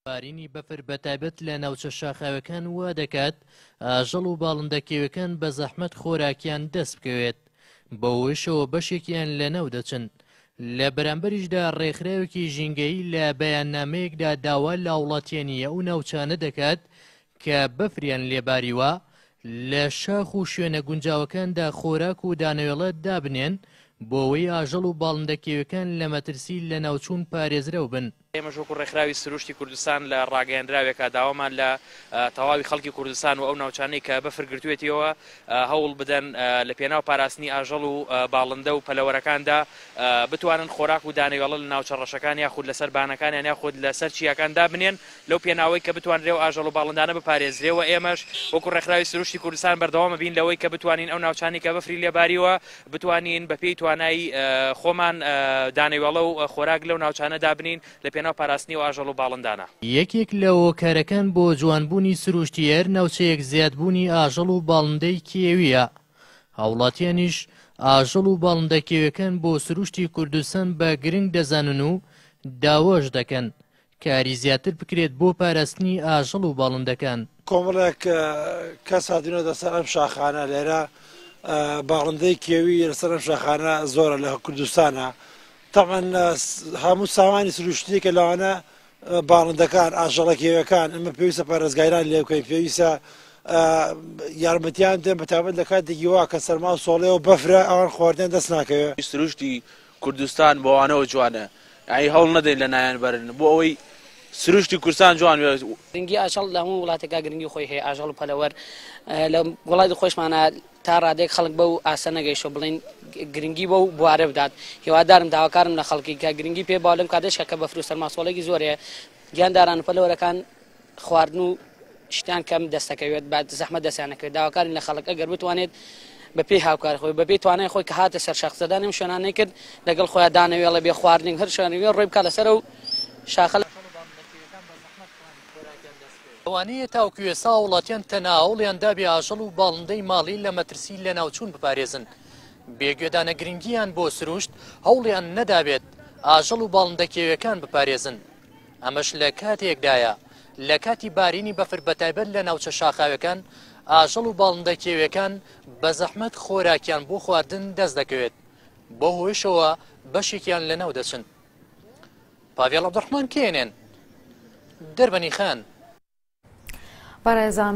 بارینی بەفر بە تایبەت لە ناوچە شاخاوەکان وا دەکات ئاژەڵ و باڵندە کێوەکان بە زەحمەت خۆراکیان دەست بکەوێت بەوەشەوە بەشێکیان لە ناو دەچن لە بەرامبەریشدا ڕێکخراوێکی ژینگەی لە بەیاننامەیەکدا داوا لە هاوڵاتیانی ئەو ناوچانە دەکات کە بەفریان لێ باریوە، لە شاخ و شوێنە گونجاوەکاندا خۆراک و دانەوێڵە دابنێن، بۆوەی ئاژەڵ و باڵندە کێویەکان لە مەترسی لەناوچوون پارێزرەو بن. ئێمەش وەکو ڕێکخراوی سروشتی کوردستان لە ڕاگەیەنراوێکا داوامان لە تەواوی خەڵکی کوردستان و ئەو ناوچانەی کە بەفر گرتوێتیەوە هەوڵ بدەن لە پێناو پاراستنی ئاژەڵ و باڵندە و پەلەوەرەکاندا بتوانن خۆراک و دانەوێڵە لە ناوچە ڕەشەکان یاخود لەسەر بانەکانیان یاخود لەسەر چیاکان دابنێن لەو پێناوەی کە بتوانرێ و ئاژەڵ و باڵندانە بپارێزرێ و ئێمەش وەکو ڕێکخراوی سروشتی کوردستان بەردەوام بین لەوەی کە بتوانین ئەو ناوچانەی کە بەفری لێ باریوە بتوانین بە پێی توانای خۆمان دانەوێڵە و خۆراک لەو ناوچانە دابنێین لە پێناو پاراستنی ئەو ئاژەڵ و باڵندانە. یەکێک لە هۆکارەکان بۆ جوانبوونی سروشتی هەر ناوچەیەک زیادبوونی ئاژەڵ و باڵندەی کێوییە. هاوڵاتیانیش ئاژەڵ و باڵندە کێویەکان بۆ سروشتی کوردستان بە گرنگ دەزانن و داواش دەکەن کاری زیاتر بکرێت بۆ پاراستنی ئاژەڵ و باڵندەکان. کۆمەڵێک کەس هاتوونەتە سەر ئەم شاخانە، لێرە باڵندەی کێوی لەسەر ئەم شاخانە زۆرە لە کوردستانا، تەبعەن هەموو سامانی سروشتیەکە لەوانە باڵندەکان ئاژەڵە کێویەکان ئەمە پێویستە پارێزگایران لێ بکەین پێویستە یارمەتیان دێن بەتابەت لە کاتێکی وا کە سەرما سۆڵەیەوە بەفرە ئەوان خواردن دەست ناکەوێت سروشتی کوردستان بەوانەوە جوانە یانی هەوڵ نەدەین لە نایان بەرن بۆ ئەوەی سروشتی کورسان جوان بێت. گرنگی ئاژەڵ لە هەموو وڵاتێکا گرنگی خۆی هەیە ئاژەڵ و پەلەوەر لە وڵاتی خۆشمانە تا ڕادەیەک خەڵک بەو ئاستە نەگەیشتوە بڵین گرنگی بەو بوارە بدات هیوادارم داواکارم لە خەڵکی کە گرنگی پێ باو لەم کاتەشکە کە بەفر و سەرماسۆڵێکی زۆرەیە گیانداران و پەلەوەرەکان خواردن و شتان کەم دەستەکەوێت با زەحمە دەستیان نەکەوێت داواکارین لە خەڵک ئەگەر بتوانێت بەپێی هاوکار خۆی بەپێی توانای خۆی کە هاتە سەر شەخزەدانم شوێنانەی کرد لەگەڵ خۆیان دانەوێڵە بێ خواردن هەر شوێنەوێ ڕۆی بکە لەسەر و شاخە لەوانەیە تاوکو ئێستا هاوڵاتیان تەنها هەوڵیان دابێ ئاژەڵ و باڵندەی ماڵی لە مەترسی لەناوچوون بپارێزن بێ گوێدانە گرنگیان بۆ سروشت هەوڵیان نەدابێت ئاژەڵ و باڵندە کێویەکان بپارێزن ئەمەش لە کاتێکدایە، لە کاتی بارینی بەفر بە تایبەت لە ناوچە شاخاوێکان، ئاژەڵ و باڵندە کێویەکان بە زەحمەت خۆراکیان بۆ خواردن دەست دەکەوێت، بەو هۆیشەوە بەشێکیان لە ناو دەچن. پاڤێڵ عەبدولڕەحمان کێنێن، دەربەنی خان. بەڕێزان.